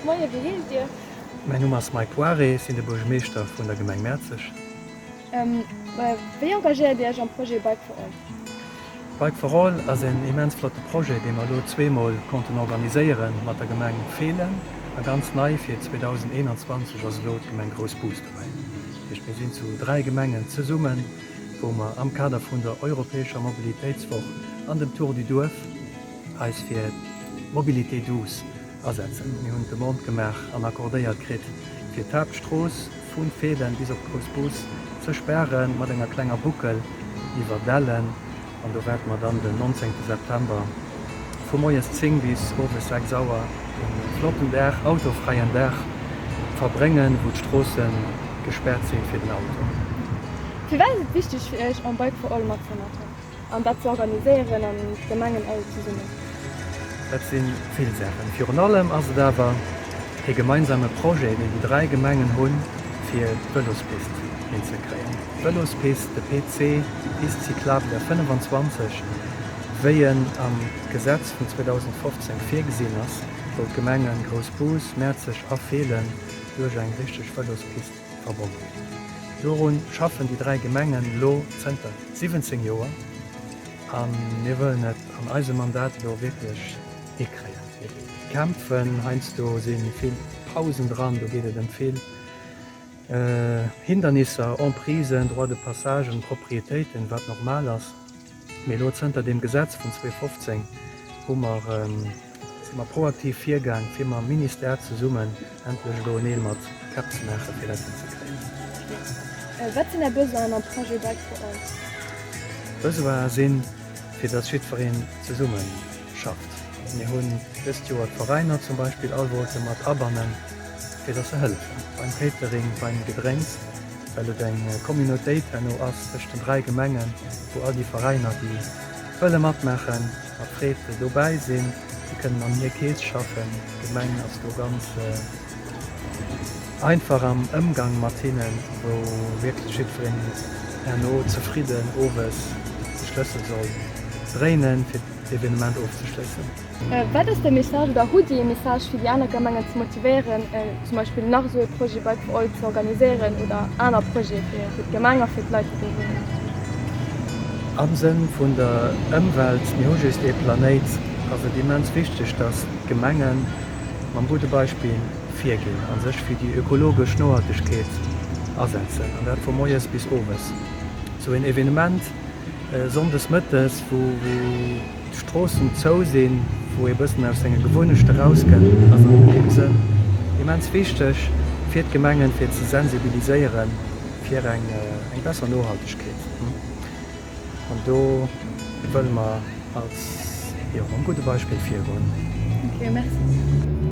Moie, wéi heesst Dir? Mäin Numm ass Mike Poiré, sinn de Buergermeeschter vun der Gemeng Mäerzeg. Wéi engagéiert Dir Iech am Projet Bike for All? Bike for All ass een immens flotte Projet, dee mer elo zwee Mol konnten organiséieren mat der Gemeng Feelen. A ganz nei fir 2021 ass elo d'Gemeng Groussbus dobäi. Dat heescht, mir sinn zu dräi Gemengen zesummen, wou mer am Kader vun der europäescher Mobilitéitswoch an dem Tour du Duerf eis fir d'Mobilité douce Asetzen. Mir hunn d'Demande gemaach an accordéiert kritt, fir d'Haaptstrooss vu Feeden bis op d'Grouss Bus ze sperren, mat enger klenger Boucle iwwer Dellen. An do waarde mer dann den 19 September vu moies 10 bis owes 6 Auer e flotten Dag, autofräien Dag verbréngen, wou d'Stroosse gespäert si fir den Auto. Firwat ass et wichteg fir Iech, en Bike for All matzemaachen? An dat ze organiséieren an d'Gemengen all zesummen. Dat si vill Saachen. Virun allem ass et awer dee gemeinsame Projet, deen déi dräi Gemengen hunn, fir d'Vëlospist hinzekréien. D'Vëlospist, de PC, d'Piste cyclable der 25, wéi en am Gesetz vun 2015 virgesinn ass, wou d'Gemenge Groussbus, Mäerzeg a Feelen duerch eng richteg Vëlospist verbonnen. Dorun schaffen déi dräi Gemengen elo zënter 17 Joer a mir wëllen et an eisem Mandat elo wierklech hikréien. Mir kämpfen, heiansdo si vill Pausen dran, do geet et ëm vill Hindernisser, Emprisen, Droits de passage un Propriétéiten, wat normal ass. Mee elo zënter deem Gesetz vun 2015 hu mer, si mer proaktiv virgaang, fir mam Ministère zesummen endlech elo en Eel mat Käpp ze maachen, fir dat hinzekréien. Wat sinn Är Besoinen am Projet Bike for All? D'Besoine sinn, fir dass jiddwereen zesumme schafft. Mir hunn dëst Joer d'Veräiner zum Beispill all wollte mat abannen, fir dass se hëllefen beim Catering, beim Gedrénks. well et eng Communautéit herno ass tëscht den dräi Gemengen, wou all déi Veräiner, déi wëlle matmaachen, mat Freed dobäi sinn. Si kënnen an hir Keess schaffen. D'Gemeng ass do ganz einfach am Ëmgang mat hinnen, wou wierklech jiddwereen herno zefridden owes de Schlëssel soll dréinen, fir d'Evenement ofzeschléissen. Wat ass de Message oder hutt Dir ee Message fir déi aner Gemengen ze motivéieren zum Beispill nach esou ee Projet bei euch ze organiséieren oder aner Projete fir fir d'Gemeng a fir d'Leit déi do wunnen? Am Sënn vun der Ëmwelt, mir hu just ee Planéit, ass et immens wichteg, datt d'Gemenge mam gudde Beispill virginn a sech fir déi ökologesch Nohaltegkeet asetzen an dat vu moies bis owes. Esou een Evenement sonndes mëttes wou wou. Stroossen zou sinn, wou ee bëssen aus senge Gewunnechte rausgëtt, ass an deem Sënn immens wichteg fir d'Gemengen, fir ze sensibiliséieren fir eng besser Nohaltegkeet. An do wëlle mer als, jo, mam gudde Beispill virgoen. Ok, merci.